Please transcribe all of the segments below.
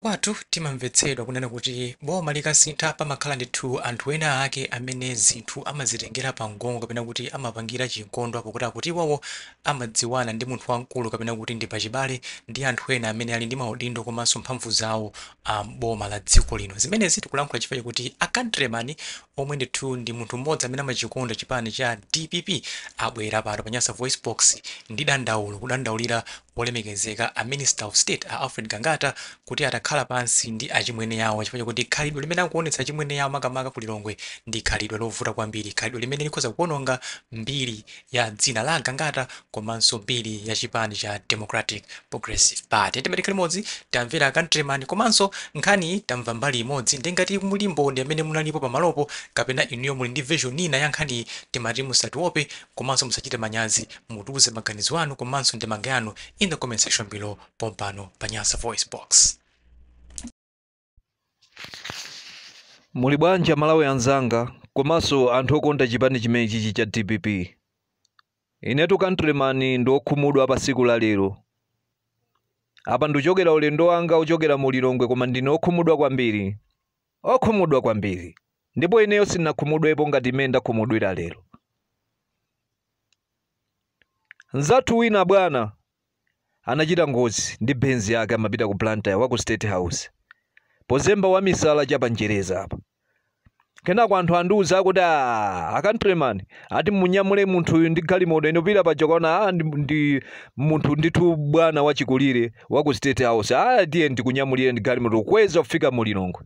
Kwathu timamvetsedwa kunena kuti boma likasintha pamakhala ndithu anthu ena ake amene zinthu amazitengera pamgong'o kapena kuti amapangira chinkondwa pokuti akuti iwowo amadziwana ndi munthu wamkulu kapena kuti ndi pachibale ndi anthu ena amene ali ndi maudindo komanso mphamvu zawo m'boma la dziko lino. Zimenezi tikulankhula chifukwa chakuti a Countryman omwe ndithu ndi munthu m'modzi amene amachikonda chipani cha dpp abwera pano pa Nyasa VoiceBox ndi dandaulo, kudandaulira Olemekezeka a Minister of State a Alfred Gangata kuti atakhala pansi ndi achimwene awo chifukwa chakuti khalidwe limene akuonetsa achimwene awo makamaka ku Lilongwe ndi khalidwe lovuta kwambiri, khalidwe limene likhoza kuononga mbiri ya dzina la a Gangata komanso mbiri ya chipani cha Democratic Progressive Party. Timati tikhale limodzi, tamvera a Countryman komanso nkhaniyi tamva mbali imodzi nde ngati muli mboni amene munalipo pamalopo kapena inuyo muli ndi version ina ya nkhaniyi timati musatiwope komanso musachite manyazi Mutiuze maganizo anu komanso ndemanga yanu in the comment section below pompano pa Nyasa Voice Box. Muli bwanji Amalawi anzanga komanso anthu okonda chipani chimenechichi cha dpp? Inetu countryman ndine okhumudwa pa tsiku la lero. Apa ndichokera ulendo wanga ochokera mu Lilongwe koma ndine okhumudwa kwambiri. okhumudwa kwambiri, ndipo ineyo sinakhumudwepo ngati mmene ndakhumudwira lero. Mnzathu wina bwana anachita ngozi ndi Benz yake amapita ku Blantyre wa ku State House pozemba wamisala cha pa Njereza apa. Kenako anthu andiuza akuti "Ah, a countryman ati munyamule munthuyu ndi galimoto ino pita paja kwaona ah, ndi, ndi munthu ndithu bwana wachikulire wa ku state house aya tiye ndikunyamulire ndi galimoto kweza kufika mu lilongwe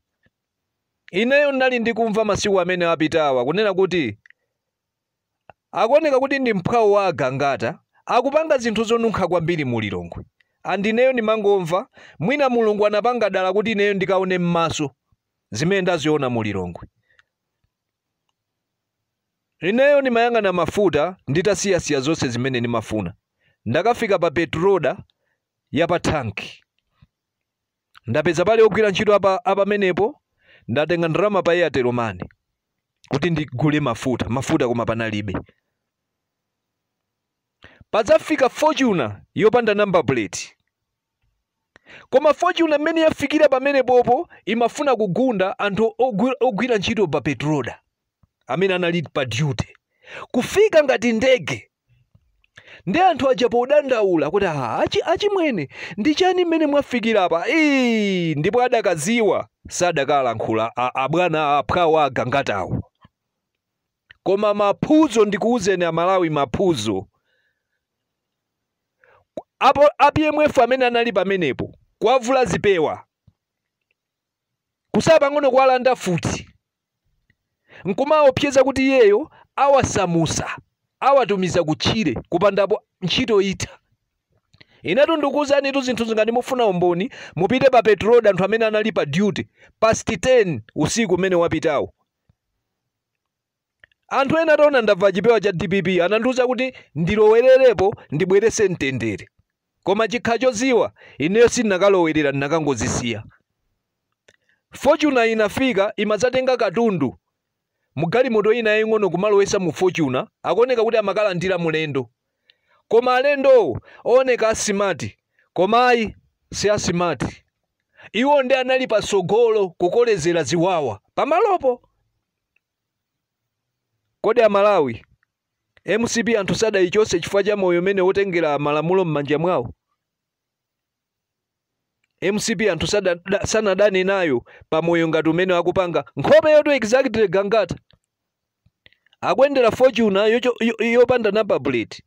ineyo ndinali ndikumva masiku amene apitawa kunena kuti akuoneka kuti ndi mphwawo wa agangata akupanga zinthu zonunkha kwambiri mu lilongwe andi ineyo ndimangomva mwina mulungu anapanga dala kuti ineyo ndikaone m'maso zimene ndaziona mu lilongwe Ineyo ndimayang'ana mafuta nditasiyasiya zonse zimene ndimafuna. Ndakafika pa petroda ya pa thanki. Ndapeza pali ogwira ntchito apamenepo. Ndatenga ndalama pa Airtel money kuti ndigule mafuta, mafuta koma panalibe. Padzafika Fortuner yopanda number plate. koma fortuner mmene yafikira pamenepopo imafuna kugunda anthu ogwira ntchito pa petroda amene anali pa duty kufika ngati ndege ndi anthu aja podandaula kuti aha achimwene ndi chani mmene mwafikira apa Ii, ndipo adakaziwa sadakalankhula a- abwana aphwawo agangatawo koma maphunzo ndikuwuzeni amalawi maphunzo apo a PMF amene anali pamenepo kuwavula zipewa kusala pang'ono kuwalanda futi nkumawaopseza kuti iyeyo awasamusa awatumiza kutchire kupandapo ntchito itha inetu ndikuwuzanitu zinthu izi ngati mufuna umboni mupite pa petroda anthu amene anali pa duty past 10 usiku umene wapitawo Anthu ena ataona ndavala chipewa cha dpp anandiuza kuti ndilowelerepo ndibwerese mtendere. Koma chinkha choziwa, ineyo sindinakalowerera ndinakangozisiya. Fortuner inafika imadzatenga katundu mu galimoto ina yaying'ono kumalowesa mu Fortuner, akuoneka kuti amakalandira mulendo. Koma alendowo ooneka a smart koma ayi si a smart. Iwo nde anali patsogolo kukolezera ziwawa pamalopo. Kodi a Malawi, mcp anthu sadayichotse chifukwa cha moyo umene wotengera malamulo mmanja mwawo? Mcp anthu sada, da, sanadane nayo pa moyo ngati umene akupanga nkhope yonse exactly Gangata. Akuyendera Fortuner yocho, yo, yopanda number plate.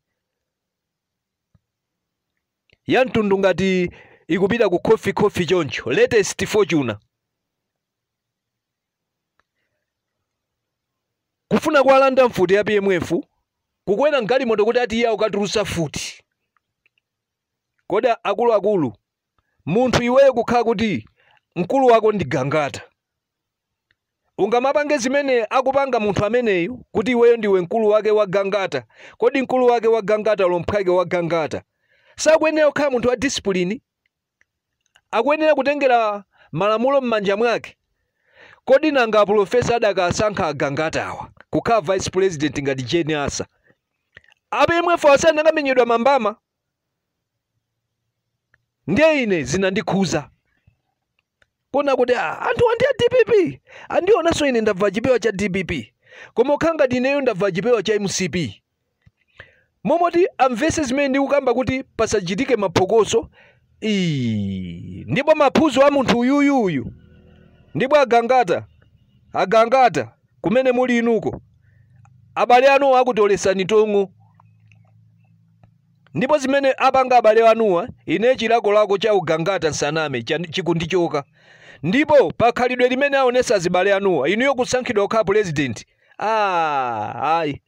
Ya mtundu ngati ikupita ku khofi khofi choncho. Latest Fortuner. kufuna kuwalanda mfuti ya PMF kukwera mgalimoto kuti ati iye akukatulutsa futi kodi akuluakulu munthu iweyo kukhala kuti mkulu wako ndi gangata ungamapange zimene akupanga munthu ameneyu kuti iweyo ndiwe mkulu wake wa gangata kodi mkulu wake wa gangata olo mphwake wa gangata sakuyenera kukhala munthu wa disipulini akuyenera kutengera malamulo m'manja mwake? Kodi nanga apulofesa adakasankha agangata awa kukhala vice president ngati Jane Ansah? A PMF asanakamenyedwa mambama ndiye ine zinandikhuza kuona kuti ah, anthuwa ndi a dpp andionanso ine ndavala chipewa cha dpp koma ukhala ngati ineyo ndavala chipewa cha mcp momoti amvese zimene ndikukamba kuti pasachitike maphokoso Ii, ndipo maphuzo a munthu uyuyuyu ndipo agangata agangata kumene muli inuko abale anuwa akutolesani tong'o Ndipo zimene apanga abale anuwa, ine chilakolako cha ugangata nsaname chan, chikundichoka. Ndipo pa khalidwe limene aonesa azibale anuwa, inuyo kusankhidwa kukhala pulezidenti, aah ayi.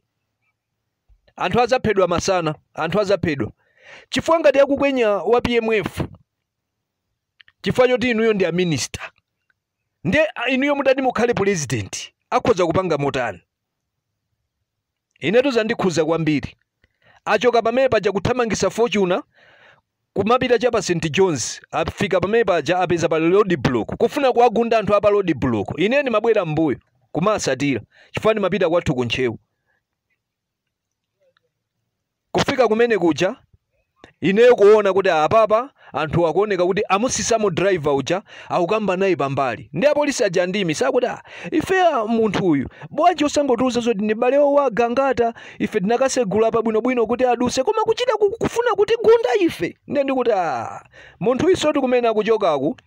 Anthu azaphedwa masana, anthu azaphedwa. Chifukwa ngati akukwenya wa PMF chifukwa choti inuyo ndi a minister. ndiye inuyo mutati mukhale pulezidenti akhoza kupanga motani inetu zandikhuza kwambiri achoka pamene paja kuthamangisa fortuna kumapita cha pa st johns afika pamene paja apeza pa road block kufuna kuwagunda anthu a pa road block ine ndimabwera m'mbuyo kumasatira chifukwa ndimapita kwathu ku ntcheu kufika kumene kuja ineyo kuona kuti apapa anthu akuoneka kuti amusisamo driver uja akukamba naye pambali ndi apolisi aja ndi mmesa akuti "Ah, ife ah, munthu uyu bwanji osangotiuza zoti ndi m'bale wa Gangata ife tinakasegula apa bwinobwino kuti aduse koma kuchita ku- kufuna kutigunda ife ndiye ndikuti "Ah, munthuyusotu kumene akuchokaku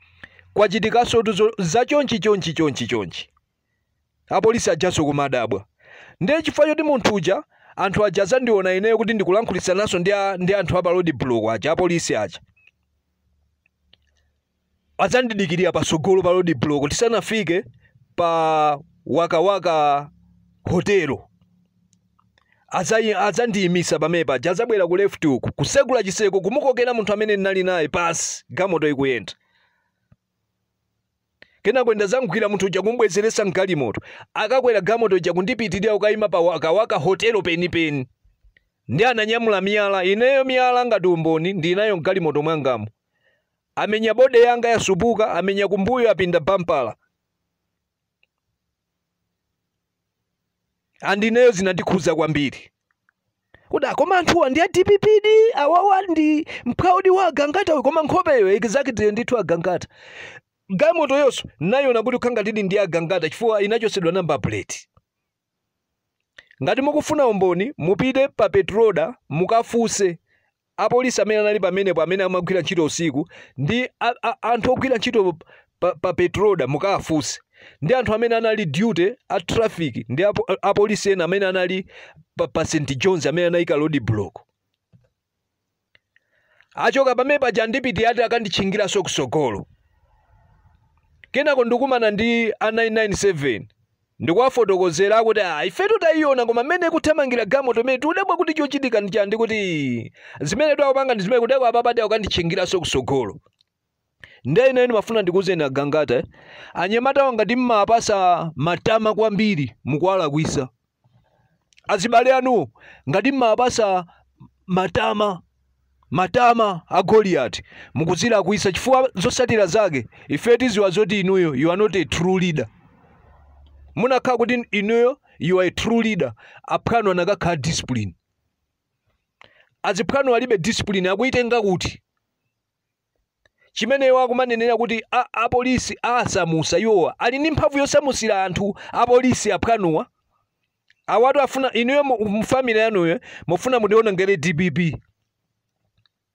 kwachitikasotu zo- za chonchi chonchi chonchi chonchi apolisi ajanso kumadabwa ndiye chifukwa choti munthu uja anthu aja azandiona ineyo kuti ndikulankhulitsananso ndi, a, ndi anthu a pa road block aja apolisi aja adzandidikirira patsogolo pa road block tisanafike pa wakawaka hotelo Adzayi- adzandiyimisa pamene paja adzabwera ku left uku kusegula chiseko kumukokera munthu amene ndinali naye pansi gamoto ikuyenda kenako ndadzamgwira munthu uja kumbwezeretsa mgalimoto akakwera gamoto uja kundipitirira kukayima pa wakawaka hotelo penipeni nde ananyamula miyala ineyo miyala ngati umboni ndili nayo mgalimoto mwangamo amenya body yanga yasupuka amenya kumbuyo apinda bampa and ineyo zinandikhudza kwambiri kuti ah koma anthuwa ndi a dppdi awawa ndi mphwawodi wa agangata koma nkhopeyo exactly ndithu agangata gamotoyonso ndayiona kuti ikukhala ngatidi ndi agangata chifukwa inachosedwa number plate Ngati mukufuna umboni, mupite pa Petroda mukafuse apolisi amene anali pamenepo amene amagwira ntchito usiku ndi a, a, anthu ogwira ntchito pa, pa Petroda mukafuse ndi anthu amene anali duty a traffic ndi apo, apolisi ena amene anali pa, pa St John's amene anayika road block. achoka pamene paja ndikuti ati akanditchingiranso kusogolo kenako ndikumana ndi a 997 ndikuwafotokozera akuti a ifetu tayiona koma mmene ikuthamangira gamoto imene tikudabwa kuti chochitika ndi chani ndikuti zimene tu akupanga ndi zimenezi kutereku apapa ati akukanditchingiranso kusogolo nde ine ndimafuna ndikuuzeni agangata eh? anyamatawa ngati mmawapasa matama kwambiri mukuwalakwisa azibale anuwo ngati mmawapasa matama matama a goliyati mukuzilakwisa chifukwa zosatira zake ife tiziwa zoti inuyo you are not a true leader munakhala kuti inuyo you are a true leader aphwanu anakakhala a discipline aziphwanu alibe discipline akuyitenga kuti chimene iwo akumanenera kuti a, a polisi asamusa iwowa ali ndi mphamvu yosamusira anthu a polisi aphwanuwa awatu afuna inuyo mu- mu family yanuyo mufuna mutionongere dpp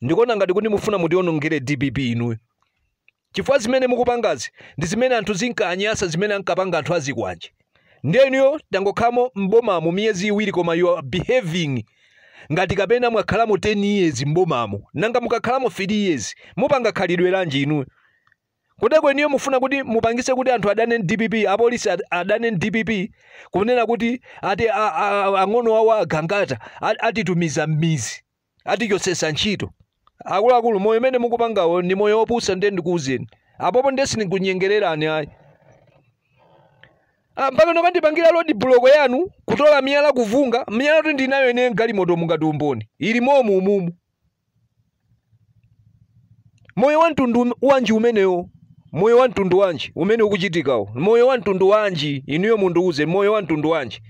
ndikuona ngati kuti mufuna mutionongere dpp inuyo chifukwa zimene mukupangazi ndi zimene anthu zinkanyasa zimene ankapanga anthu azikwanje ndiye inuyo tangokhalamo m'bomamo miyezi iwiri koma you are behaving ngati kapena mwakhalamo 10 years m'bomamo nanga mukakhalamo 3 years mupanga khalidwe lanji inuyo kuteko inuyo mufuna kuti mupangise kuti anthu adane ndi dpp apolisi ad- adane ndi dpp kunena kuti ati a- a- a- ang'ono awo agangata a- atitumiza m'mizi atichotsesa ntchito akuluakulu moyo umene mukupangawo ndi moyo wopusa ndiye ndikuuzeni apopo ndiye sindinkunyengererani ayi Ah, mpaka nokandipangira road block yanu kutola miyala kuvunga miyala kuti ndinayo ine galimoto mungati umboni ili momu umumu moyo wa mtundu um- wanji umenewo moyo wa mtundu wanji umene ukuchitikawo moyo wa mtundu wanji inuyo mundiuze moyo wa mtundu wanji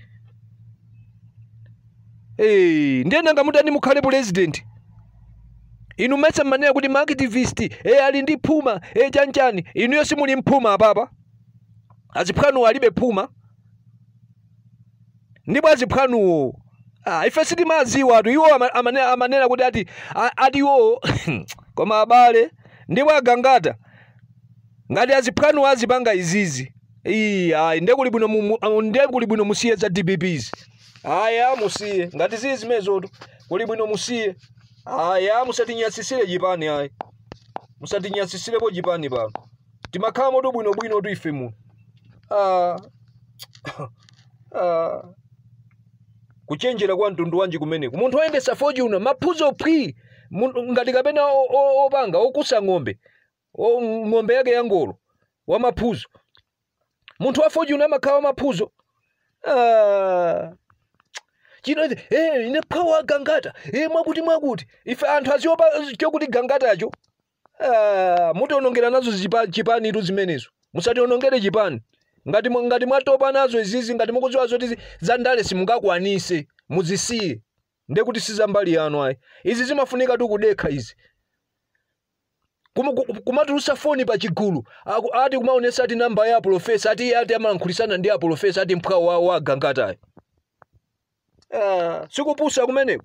Eh, ndiye nanga mutani mukhale president inu mesa mmanena kuti maactivist e ali ndi phuma e chanchani inuyo simuli mphuma apapa aziphwanuwo alibe phuma ndipo aziphwanuwo ah, ife sitimaziwatu iwo ama- amane- amanena kuti ati a- ati iwowo koma abale ndipo agangata ngati aziphwanu azipanga izizi iyi ayi ndiye kuli bwino mu- mu- amu- ndiye kuli bwino musiye za dpps aya musiye ngati zili zimezotu kuli bwino musiye aya musatinyasisire chipani ayi musatinyasisirepo chipani pano timakhalamotu bwinobwinotu ife muno ah, ah. kuchenjera kwa mtundu wanji kumeneku munthu oyendesa fortuner maphuzo phwi mun- ngati kapena o- o- opanga okusa ng'ombe o- ng'ombe yake ya ngolo wa maphuzo munthu wa fortuner amakhala wa maphuzo ah. chino eh, ine mphwawo wa gangata eh, mwakuti mwakuti ife anthu aziopa chokuti gangatacho Ah, mutionongera nazo zipa- chipanitu zimenezo musationongere chipani ngati, mu- ngati mwatopa nazo izizi ngati mukudziwa zoti zi- za ndale simungakwanise muzisiye nde kuti si za mbali yanu ayi izi zimafunikatu kudekha izi Kumu- ku- kumatulusa foni pa chigulu Aku- ati kumaonesa ati namba ya apolofesa ati iye ati amalankhulitsana ndi apolofesa ati mphwawo wa gangatayo ah, sikupusa kumeneko